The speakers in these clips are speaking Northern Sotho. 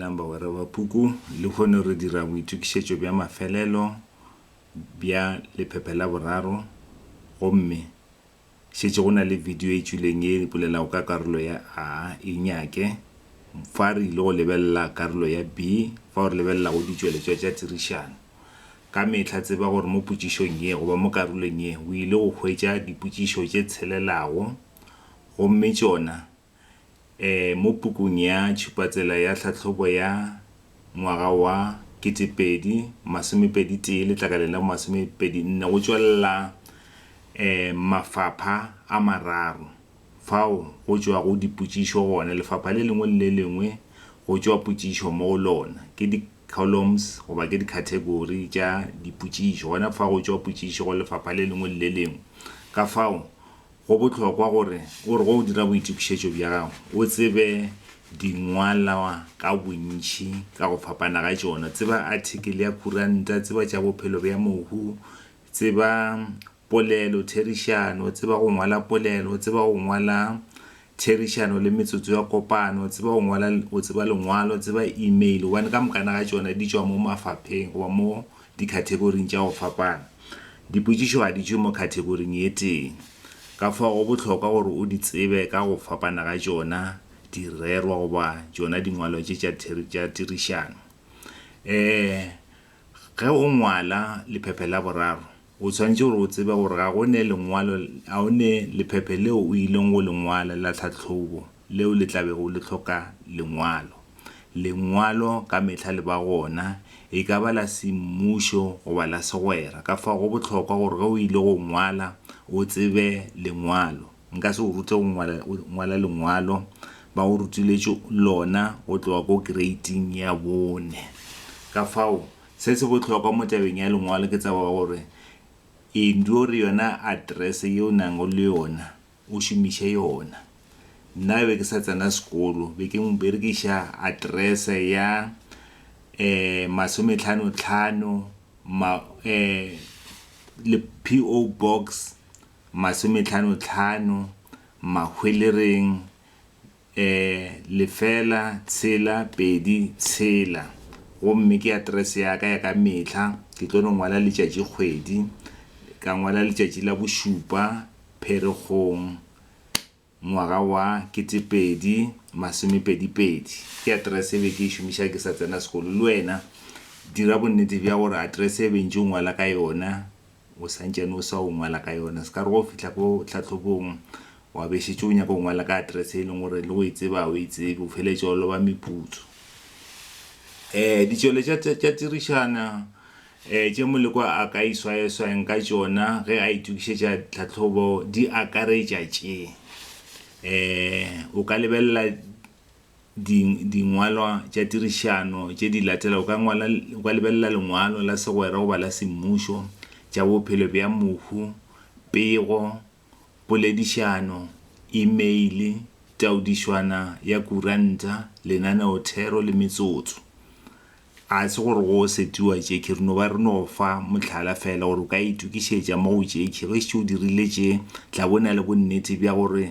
Dumelang bagwera ba Puku. Lehono re dira boitokišetšo bja mafelelo bja lephephe la boraro gomme šetše go na le bidio e tšwileng ye e bolelago ka karolo ya A. E nyake. Fa re ile go lebelela karolo ya B fao re lebelelago ditšweletšwa tša tirišano. Ka mehla tseba gore mo potšišong ye goba mo karolong ye o ile go hwetša dipotšišo tše tshelelago gomme tšona ee, mo pukung ya tšhupatsela ya tlhahlobo ya ngwaga wa 2021 letlakaleng la bo-masomepedi-nne go tšwelela ee, mafapha a mararo fao go tšwago dipotšišo gona. Lefapha le lengwe le le lengwe go tšwa potšišo mo go lona ke di columns goba ke dikhathegori tša dipotšišo gona fa go tšwa potšišo go lefapha le lengwe le le lengwe ka fao Go bohlokwa gore o re ge o dira boitokišetšo bja gago o tsebe dingwalwa ka bontši ka go fapana ga tšona. Tseba athikele ya khuranta, tseba tša bophelo bja mohu, tseba polelo, therišano, tseba go ngwala polelo, tseba go ngwala therišano le metsotso ya kopano, tseba go ngwala, go tseba lengwalo, tseba email, gobane ka mokana ga tšona di tšwa mo mafapheng goba mo dikhathekoring tša go fapana. Dipotšišo ga di tšwe mo khathekoring ye tee, ka fao go bohlokwa gore o di tsebe ka go fapana ga tšona, direrwa goba tšona dingwalo tše tša theri, tša tirišano. Ee, ge o ngwala lephephe la boraro, O tshwanetše gore o tsebe gore ga go ne lengwalo, ga o ne lephephe leo o ileng go le ngwala la tlhahlobo leo le tla bego le hloka lengwalo. Lengwalo ka mehla le ba gona, e ka ba la semmušo goba la segwera. Ka fao go bohlokwa gore ge o ile go ngwala o tsebe lengwalo. Nka se o rute go ngwala, ngwala lengwalo, ba go rutiletše lona go tloga ko kreiting ya bone. Ka fao Se se bohlokwa mo tabeng ya lengwalo ke tsebo ya gore Enduore yona aterese ye o nago le yona o šomiše yona. Nna be ke sa tsena sekolo be ke berekiša aterese ya um masometlhano tlhano ma um le PO box masometlhano tlhano Mahwelereng. Ee, lefela, tshela, pedi, tshela. Gomme ke aterese ya ka ya ka mehla, ke tlo no ngwala letšatši kgwedi, ka ngwala letšatši la bošupa Pherekgong ngwaga wa ketepedi masomepedi pedi. Ke aterese e be ke e šomiša ke sa tsena sekolo. Le wena dira bonnete bja gore aterese e bentše o ngwala ka yona, o sa ntšane o sa o ngwala ka yona se ka re go fihla ko tlhatlhobong wa be šetse o nyaka go ngwala ka address e leng gore le go e tseba o e tsebe o feletse o loba meputso um ditšwele tša tirišana um tše moleko a ka iswayeswayeng ka tšona ge a itokišetša tlhatlhobo di akaretša tše um o ka lebelela di, dingwalwa tša tirišano tše di latelago. O ka ngwala, o ka lebelela lengwalo la segwera goba la semmušo, tša bophelo bja mohu, pego, poledišano, imeile, taodišwana ya kuranta, lenaneothero le metsotso. A se gore go seti wa tšekhi, re no ba re no fa mohlala feela gore o ka itokišetša mo go tšekhi. Ge šetše o dirile tše, tla bo na le bonnete bja gore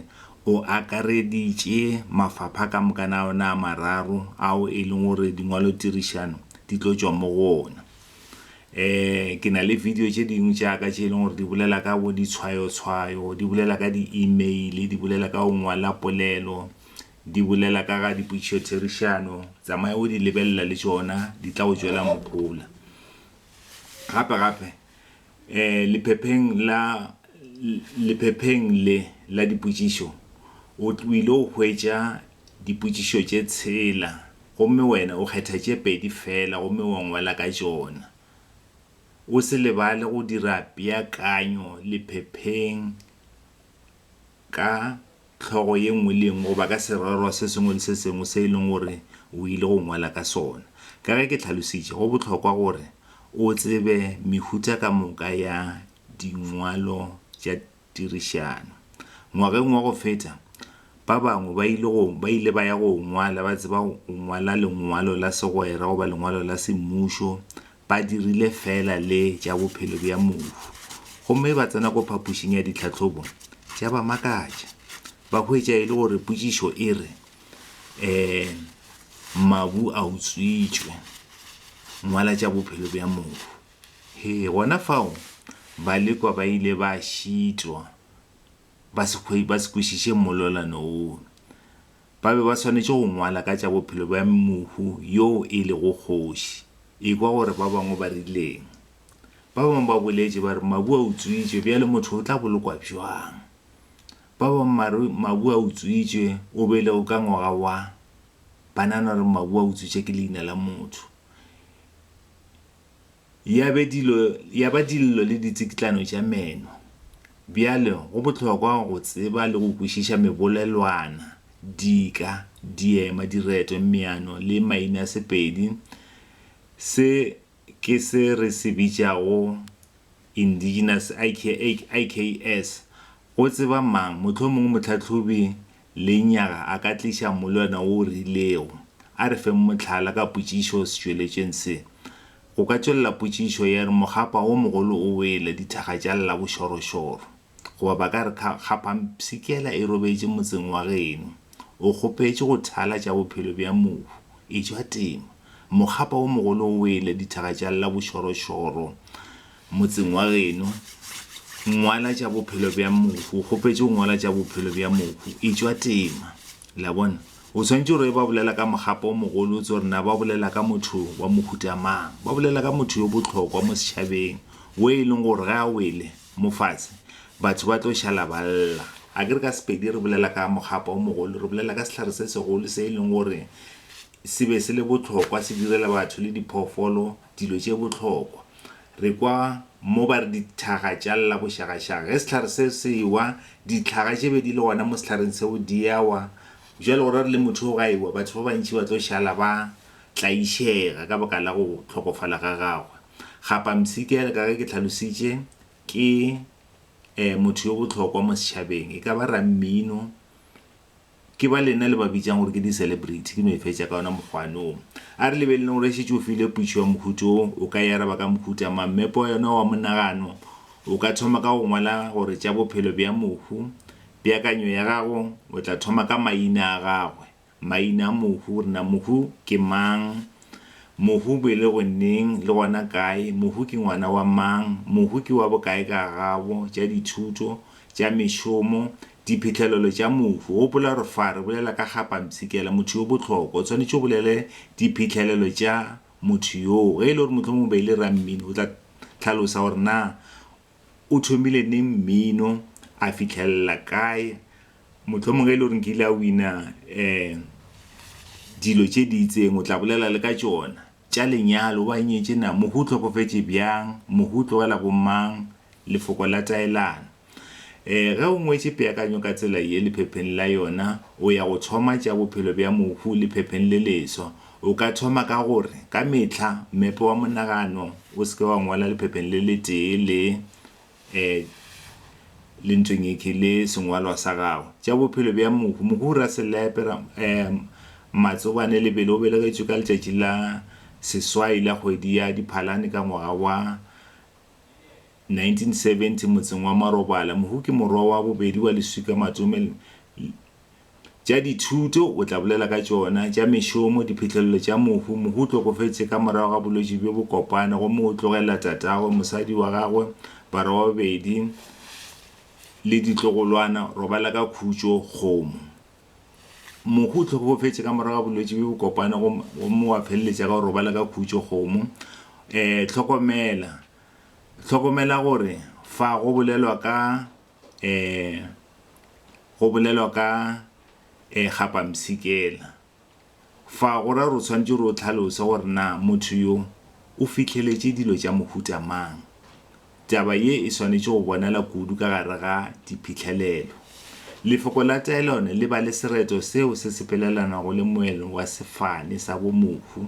o akareditše mafapha ka moka na ona a mararo ao e leng gore dingwalotirišano di tlo tšwa mo go ona. Um ke na le video tše dingwe tša ka tše e leng gore di bolela ka bo ditshwayotshwayo, di bolela ka di-email, di bolela ka go ngwala polelo Di bolela ka ga dipotšišotherišano, tsamaye o di lebelela le tšona, di tla go tšwela mohola. Gape gape, lephepheng la, lephepheng le la dipotšišo, o tlwile go hwetša dipotšišo tše tshela, gomme wena o kgetha tše pedi feela gomme wa ngwala ka tšona. O se lebale go dira peakanyo lephepheng. ka hlogo ye nngwe le ye nngwe goba ka sererwa se sengwe le se sengwe se e leng gore o ile go ngwala ka sona. Ka ge ke tlhalositše, go bohlokwa gore o tsebe mehuta ka moka ya dingwalo tša tirišano. Ngwageng wa go feta, ba bangwe ba ile go ba ile ba ya go ngwala ba tseba go ngwala lengwalo la segwera goba lengwalo la semmušo ba dirile feela le tša bophelo bja mohu gomme ba tsena ko phapošing ya ditlhahlobo tša ba makatša ba hwetša e le gore potšišo e re um mabu a utswitšwe ngwala tša bophelo bja mohu he gona fao balekwa ba ile ba šitwa ba se kwešiše mmolelano wono Ba be ba swanetše go ngwala ka tša bophelo bja mohu yoo e lego kgoši. Ekwa gore ba bangwe ba rileng. Ba bangwe ba boletše ba re, Mabu a utswitšwe, bjale motho o tla bolokwa bjang? Ba bangwe ba re, Mabu a utswitšwe, o belegwe ka ngwaga wa. Ba nagana gore mabu a utswitšwe ke leina la motho. Ya be dilo, ya ba dillo le ditsikitlano tša meno. Bjale, go bohlokwa go tseba le go kwešiša mebolelwana, dika, diema, direto, meano le mainasepedi, se ke se re se bitšago indigenous, IKS, go tseba mang, mohlomongwe mohlahlobi Lenyaga a ka tliša mmolwana wo o rilego. A re feng mohlala ka potšišo o setšweletšeng se. Go ka tšwelela potšišo ya re mogapa wo mogolo o wele dithaga tša lla bošorošoro. Goba ba ka re kha, kgaphampshikela e robetše motseng wa geno. O kgopetše go thala tša bophelo bja mohu. Etšwa tema. Mogapa wo mogolo o wele dithaga tša lla bošorošoro. Motseng wa geno, ngwala tša bophelo bja mohu. O kgopetše go ngwala tša bophelo bja mohu. E tšwa tema. Le a bona? O swanetše gore ba bolela ka mogapo o mogolo, o tse gore na ba bolela ka motho wa mohuta mang. Ba bolela ka motho yo bohlokwa mo setšhabeng, wo e leng gore ge a wele mo fatshe, batho ba tlo šala ba lla. A ke re ka Sepedi re bolela ka mogapo o mogolo, re bolela ka sehlare se segolo se e leng gore se be se le bohlokwa, se direla batho le diphoofolo, dilo tše bohlokwa. Re kwa mo ba re dithaga tša lla bošagašaga. Ge sehlare se se ewa, ditlhaga tše be di le gona mo sehlareng seo di a wa. Bjale go ra re le motho o ga ewa, batho ba bantši ba tlo šala ba tlaišega ka baka la go hlokofala ga gagwe. Gapamsi ke ka ge ke hlalositše, ke motho yo bohlokwa mo setšhabeng, e ka ba rammino, Ke ba lena le ba bitšang gore ke di-celebrity, ke no e fetša ka ona mokgwane wo. A re lebeleleng gore e šetše o filwe putšo ya mohuta wo, o ka e araba ka mohuta mang? Mmepe wa yona wa monagano o ka thoma ka go ngwala gore tša bophelo bja mohu, peakanyo ya gago o tla thoma ka maina a gagwe, maina a mohu, re na mohu ke mang? Mohu o belegwe neng le gona kae? Mohu ke ngwana wa mang? Mohu ke wa bokae ka gabo, tša dithuto, tša mešomo, Diphihlelelo tša mohu. Gopola gore fa re bolela ka ga pampshikela, motho yo bohlokwa, o swanetše o bolele diphihlelelo tša motho yoo. Ge e le gore mohlomongwe be e le rammino, o tla hlalosa gore na o thomile neng mmino, a fihlelela kae, mohlomongwe ge e le gore nkile a wina dilo tše di itseng, o tla bolela le ka tšona. tša lenyalo wa nyetše na, mohu o hlokofetše bjang, mohu o tlogela bomang, lefoko la taelano. E, ge o ngwetše peakanyo ka tsela ye lephepheng la yona, o ya go thoma tša bophelo bja mohu lephepheng le leswa. O ka thoma ka gore, ka mehla, mmepe wa monagano o se ke wa ngwala lephepheng le letee le ee, le ntšeng e ke le sengwalwa sa gago tša bophelo bja mohu mohu ra selepe ra ee, matsobane lebele o belegetšwe ka letšatši la seswai la kgwedi ya diphalane ka ngwaga wa 1970 motseng wa marobala mohu ke morwa wa bobedi wa leswika matome Tša dithuto, o tla bolela ka tšona. Tša mešomo, diphihlelelo tša mohu. Mohu o tlokofetše ka morago ga bolwetši bjo bo kopana gomme o tlogelela tatagwe, mosadi wa gagwe, barwa ba babedi le ditlogolwana. Robala ka khutšo, kgomo. Mohu o tlhokofetše ka morago ga bolwetši bjo bo kopana gomme wa feleletša ka go robala ka khutšo, kgomo. Hlokomela, Hlokomela gore fa go bolelwa ka um go bolelwa ka um kgapamsikela. Fa go ra gore o tshwanetse gore o tlhalose gore na motho yo o fitlheletše dilo tša mohuta mang. Taba ye e swanetše go bonala kudu ka gare ga diphihlelelo. Lefoko la taelano le ba le sereto seo se sepelelanago le moelo wa sefane sa bomohu